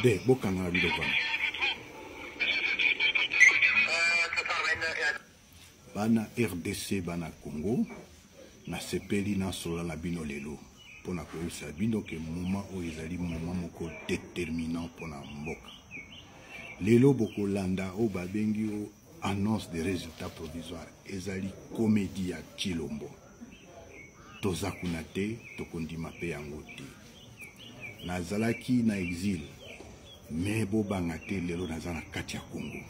de bokangaka biloko wana bana rdc bana congo nasepeli nasola na bino lelo mpo na koyebisa bino ke moma oyo ezali moma moko determinant mpo na mboka lelo bokolanda oyo babengi o annonce de résultat provisoire ezali komedi ya chilombo toza kuna te tokondima mpe yango te nazalaki na exile me bobanga te lelo naza na kati ya kongo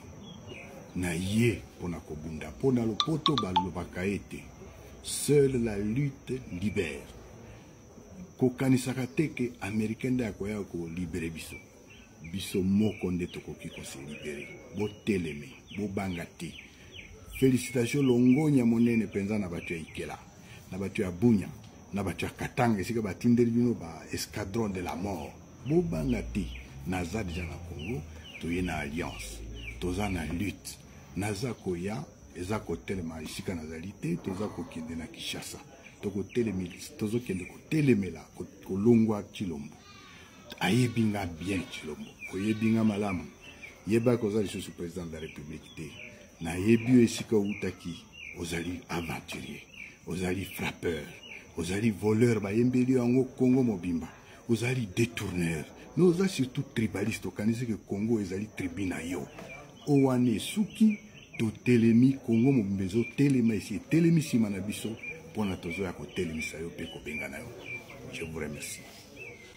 na ye mpo na kobunda mpo na lopoto balobaka ete seule la lutte libère kokanisaka te ke américain nde akoya kolibere biso biso moko nde tokoki koselibere boteleme bobanga te félicitation longonya monene mpenza na bato ya ikela na bato ya bunya na bato ya katanga esika batindeli bino ba escadron de la mort bobanga te naza deja na congo toye na alliance toza na lutte naza koya eza kotelema esika nazali te toza kokende na kinshasa tozokende kotelemela kolongwa kilombo ayebi nga bien tshilombo oyebi nga malamu yebaki oza lisusu président de la république te nayebi yo esika outaki ozali aventurier ozali frappeur ozali voleur bayembeli yo yango congo mobimba ozali détourneur me oza surtout tribaliste okanisi ke congo ezali tribu na yo oyo wana esuki totelemi congo mobimba ezotelema esi etelemi nsima na biso mpo na tozoya kotelemisa yo mpe kobengana yo je vous remercie